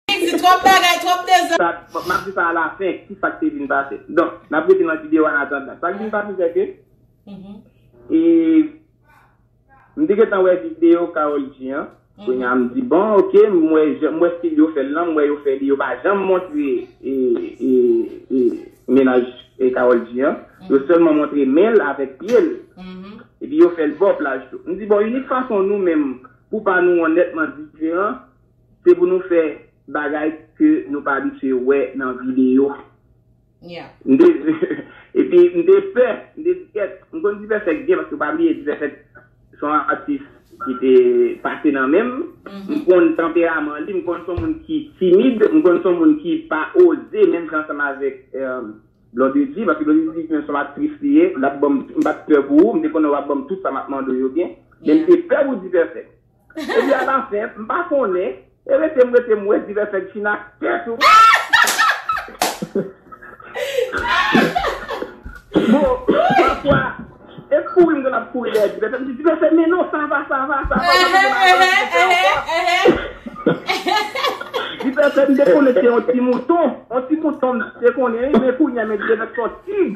Li di twòp bagay, twòp dezòd. Sa, m ap di sa alafen, ki sa k te vin pase. Donk, n ap rete nan videyo a an atandan. Sa k vin pase se ke, e, m te gentan wè videyo Karol G an, kounye a m di bon ok, m wè jan, m wè stil yo fè l lan, m wè yo fè li, yo pa janm montre, e, e, e, mennaj Karol G an. Yo sèlman montre men l avèk pye l. Epi yo fè l bò plaj tou. M di bon, inik fason nou menm, pou pa nou onètman diferan, Se pou nou fè bagay ke nou pa abitye wè nan videyo. Epi m te pè, m te di kèt, m konn Dipèfèk byen paske pa bliye Dipèfèk se yon atis ki te pase nan men m. M konn tanperaman li, m konn se yon moun ki timid, m konn se yon moun ki pa oze menm jan ansanm avèk Blondedy paske Blondedy di menm se yon aktris li ye, l ap ban m, m pa t pè pou ou, m te konnen w ap ban m tout sa m ap mande w yo byen, men m te pè pou Dipèfèk. Ebyen a la fen, m pa konnen, e rete m rete m wè divè fè gchin ak tèt ou. Bon, pafwa, e kouri m konn ap kouri dèyè divè fè, m di divè fè men non sa va, sa va, sa va, m rete la avan divè fè ankò. Divè fè m te konnen se yon ti mouton, yon ti mouton m te konnen wi, men kounye a men divè fè son tig.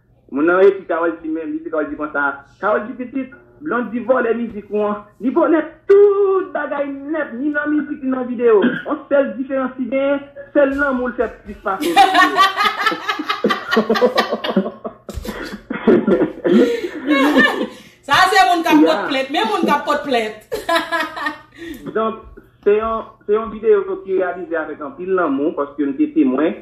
Moun nan ekri Carol G men mizik la li di konsa, Carol G pitit, Blondy vòlè mizik ou an, li vòlè tout bagay nèt ni nan mizik ni nan video, on sèl diferans li genyen se lanmou l fè plis pase nan video. Sa se moun kap pot plent, men moun kap pot plent. Donk se yon video ki reyalize avèk anpil lanmou paske m te temwen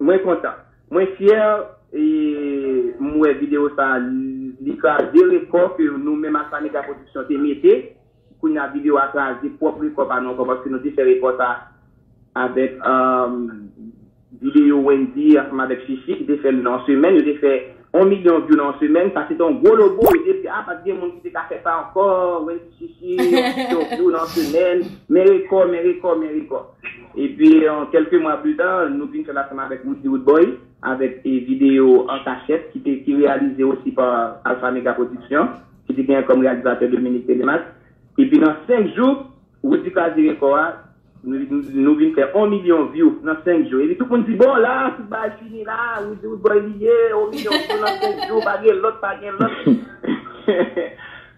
Mwen kontan. Mwen fyè e m wè video sa li kraze rekò ke nou menm ak Pamega Production te mete. Kounye a video a kraze pwòp rekò pa nou ankò paske nou te fè rekò sa avèk video Wendyy ansanm avèk Shishi ki te fè l nan yon semèn. Yo te fè On milyon view nan on semèn sa se te on gwo logo e depi a pat gen moun ki te ka fè sa ankò Wendyy Shishi on milyon view nan on semèn men rekò men rekò men rekò epi on kèlke mwa pli ta nou vin fèl ansanm avèk Roody Roodboy avèk e video an kachèt ki te ki reyalize osi pa Alpha Mega Production ki te gen kòm reyalizatè Dominique Télémaque epi nan 5 jou Roody kraze rekò a. Nou vin fè on milyon vyou nan 5 jou epi tout moun di bon la tout bagay fini la Roody Roodboy li ye on milyon vyou nan 5 jou pa gen lòt pa gen lòt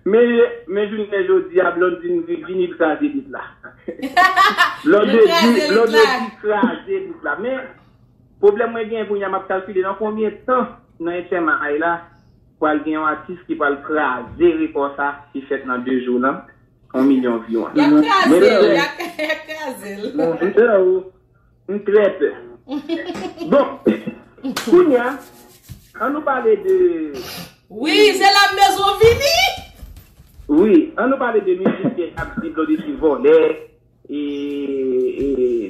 men jounen jodi a Blondine vini kraze lit la Blondedy kraze lit la men pwoblèm mwen gen kounye a map kalkile nan konbyen tan nan HMI la pral gen yon atis ki pral kraze rekò sa ki fèt nan 2 jou lan. 1 milyon vi wan. Yap krazel, yap krazel. Bon, m pè ou, m trè pè. Bon, kounya, an nou pale de... Wi, se la m bezwen w vini! Wi, an nou pale de mizik ke ap di Blondedy se vòlè, e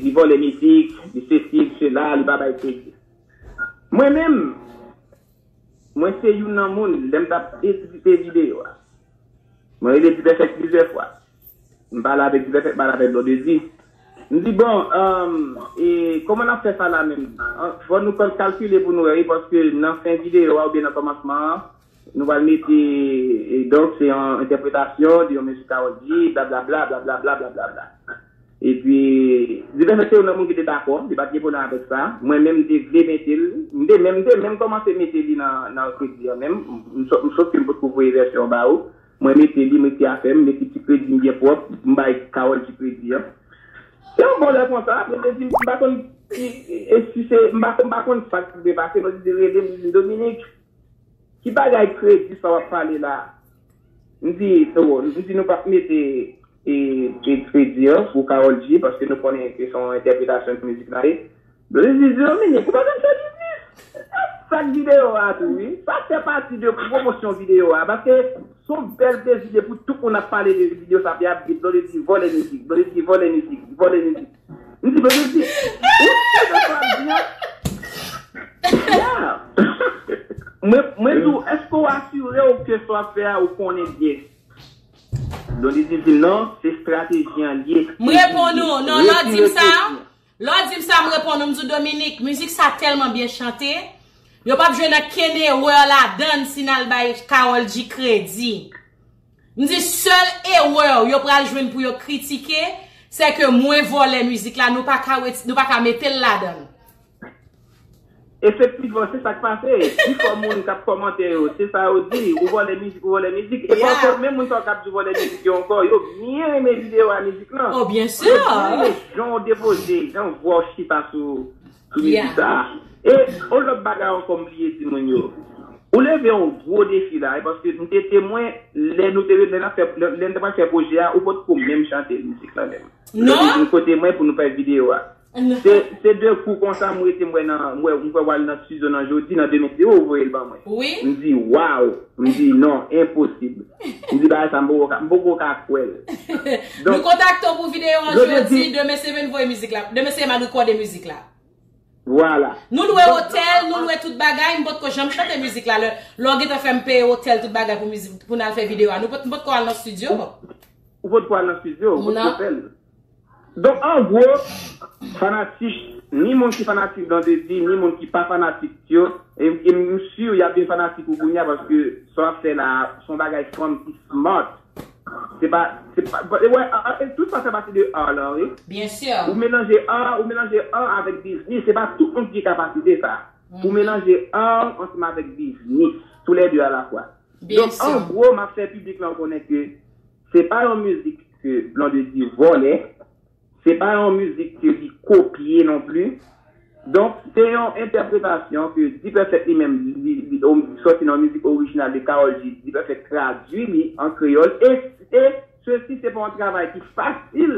li vòlè mizik, li sesi, li sela, li pa bay kredi. Mwen menm... Mwen se youn nan moun, lè m t ap edite videyo a, mwen rele Dipèfèk plizyè fwa. M pale avèk Dipèfèk, m pale avèk Blondedy. M di, bon, e kòman n ap fè sa la menm? Fò nou kalkile pou nou wè wi, paske nan fen videyo a oubyen nan kòmansman an, nou pral mete donk se yon entèpretasyon de yon mizik Karol G, blablabla, blablabla, blablabla. Epi, divès nan seri nan moun ki te dakò, li pa t gen pwoblèm avèk sa. Mwen menm, m te vle mete l. M te menm, m te menm kòmanse mete li nan, nan kredi an menm. M sot, m sot ke m potko voye vèsyon an ba ou. Mwen mete li, m ekri afè m, m ekri ti kredi m byen pwòp, m bay Carole ti kredi an. Se yon bon lè konsa, apre l te di m, m pa konn ki, e si se, m pa, m pa konn sa k te pase, m te di, rele m, li di m, Dominique, Ki bagay kredi sa wap pale la. M di nou m di nou pa mete e kredi an pou Carol G paske nou konnen ke son entèpretasyon ke mizik la ye. Blondedy di di Dominique ou pa konn fè biznis. Sak video a tou wi. Sa fè pati de pwomosyon video a paske son bèl plezi depi tout moun ap pale de video sa pi ap di Blondedy vòlè mizik, Blondedy vòlè mizik, vòlè mizik. Li di bebe di, ou si de sa wap di an? Yeah! Mwen di w, eske w asire w ke sa wap fè a ou konnen byen? Dondidi di, non, se strateji an liye. M reponn ou, non, lè w di m sa, lè w di m sa m reponn ou, m di w Dominique, mizik sa tèlman byen chante, yo pap jwenn ankenn erè ladann si n al bay Karol G kredi. M di sèl erreur yo pral jwenn pou yo kritike se ke mwen vòlè mizik la nou pa ka metel ladann. Efektivman se sak pase, pifò moun kap kòmante yo se sa yo di, ou vòlè mizik ou vòlè mizik, e paske menm moun sa yo kap di ou vòlè mizik yo ankò yo byen renmen video a mizik lan, yo byen renmen jan ou depoze, jan vwa ou chita sou Sou mizik sa a. E yon lòt bagay ankò m bliye di moun yo. Ou leve yon gwo defi la wi paske m te temwen lè nou te lè n ap fè lè n te pral fè pwojè a ou potko menm chante mizik lan menm. Lè w te vin kote mwen pou nou fè videyo a. Se se de kou konsa m rete m wè nan m wè m kwè w al nan studio nan jodi nan demen se ou ou voye l ban mwen. M di waww m di non enposib. Ou di bagay sa m poko ka m poko ka kwè l. Nou kontakte w pou videyo an jodi, demen se vin voye mizik la, demen se eman rekòde mizik la. Vwala. Nou lwe otèl, nou lwe tout bagay, m potko janm chante mizik la lè w gentan fè m peye otèl tout bagay pou mizik pou n al fè videyo a. M potko al nan stidyo. Ou potko al nan stidyo, ou potko fè l. Donk an gwo, fanatik, ni moun ki fanatik Blondedy, ni moun ki pa fanatik yo, e m sur y ap vin fanatik ou kounya paske sa w ap fè la a se yon bagay fanm ki smart, se pa, se pa, e wè art, tout sa fè pati de art lan wi. Byen sûr. Ou melanje art, ou melanje art avèk biznis, se pa tout moun ki gen kapasite sa a pou melanje art ansanm avèk biznis, tou lè de alafwa. Donk an gwo m ap fè piblik lan konnen ke. Se pa yon mizik ke Blondedy vòlè, se pa yon mizik ke li kopye non pli. Donk, se yon entèpretasyon ke D-Perfect li menm li sòti nan yon mizik orijinal de Karol G, D-Perfect tradui li an kreyòl e sesi se pa yon travay ki fasil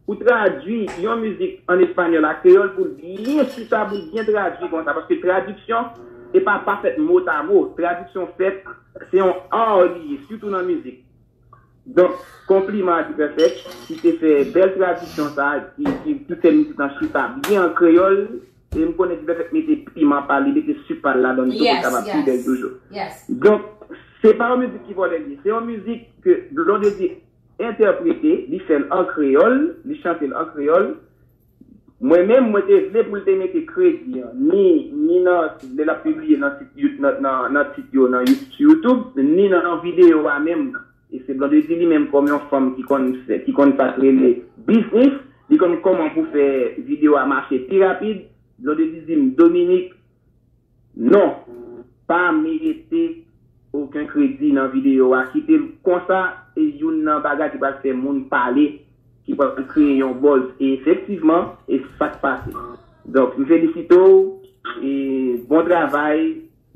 pou tradui yon mizik an espanyòl a kreyòl pou l byen chita, pou l byen tradui konsa paske tradiksyon e pa pa fèt motamo, tradiksyon fèt se yon art li ye sitou nan mizik. Donk, konpliman a Dipèfèk ki te fè bèl tradisyon sa a, ki fè mizik lan chita byen an kreyòl. E m konnen Dipèfèk mete piman pa l, li mete sik pa l ladan l tou pou l kapab pi bèl toujou. Donk, se pa yon mizik ki vòlè li ye. Se yon mizik ke Blondedy entèprete, li fè l an kreyòl, li chante l an kreyòl. Mwen menm, mwen te vle pou l te mete kredi an, ni, ni nan, lè l ap pibliye nan sit You, nan, nan tit yo nan You, sou YouTube, ni nan nan videyo a menm nan. E se Blondedy li menm kòm yon fanm ki konn fè, ki konn sa k rele biznis, li konn kòman pou fè videyo a mache pi rapid, Blondedy di m, Dominique, Non! Pa mete oken kredi nan video a kite l konsa e youn nan bagay ki pral fè moun pale ki pral kreye yon buzz e efektivman e sak pase donk m felisite w e bon travay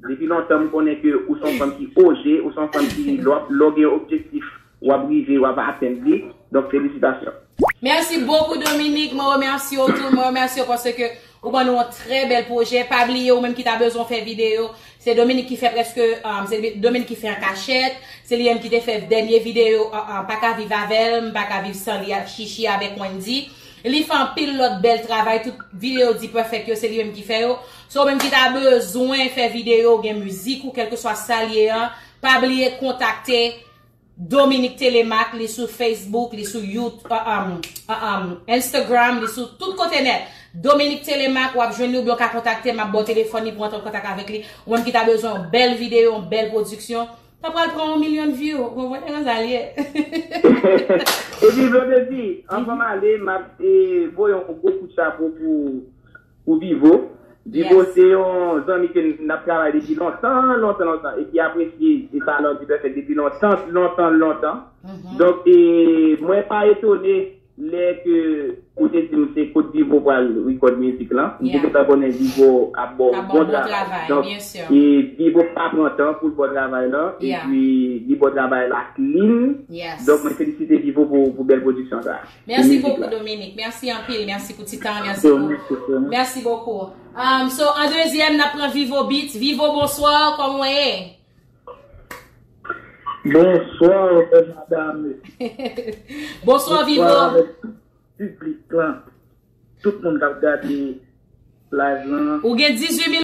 depi lontan m konnen ke ou son fanm ki oze ou son fanm ki lè w gen objektif Wap rive wap atenn li donk felisitasyon. Merci beaucoup Dominique mwen remèsye w tou mwen remèsye w paske ou ban nou yon trè bèl pwojè pa bliye ou menm ki ta bezwen fè video se Dominique ki fè prèske se Dominique ki fè an kachèt se li menm ki te fè dènye video pa ka viv avè l m pa ka viv san li Chichi avèk Wendy li fè anpil lòt bèl travay tout video D-Perfect yo se li menm ki fè yo se ou menm ki ta bezwen fè video ou gen mizik ou kèlkeswa sa l ye an pa bliye kontakte Dominique Télémaque li sou Facebook, li sou you uh um uh um Instagram, li sou tout kote nèt. Dominique Télémaque wap jwenn li oubyen w ka kontakte m map ba w telefòn li pou w antre an kontak avèk li. Ou menm ki ta bezwen yon bèl videyo, yon bèl pwodiksyon, pa pral pran yon milyon view, ou konprann e konsa l ye. Epi vle w te di, anvan m ale map voye yon gwo kout chapo pou Pou Vivo. Vivo se yon zanmi ke n ap travay depi lontan, lontan, lontan e ki apresye Salon du Perfect depi lontan, lontan, lontan. Donk, mwen pa etone lè ke ou te di m se kot Vivo pral record mizik lan. M te gentan konnen Vivo ap ba w bon travay. Donk, Vivo pa pran tan pou l ba w travay lan epi li ba w travay la clean. Donk, mwen felisite Vivo pou bèl pwodiksyon sa a. Merci beaucoup Dominique, merci anpil, merci pou ti tan, merci pou, merci beaucoup. Um, so, an dezyèm, nap pran Vivo Beats. Vivo, bonsoir, kòm wè ye? Bonsoir, madame. bonsoir, Vivo. Public lan, tout moun kap gade live lan. Ou gen 18 000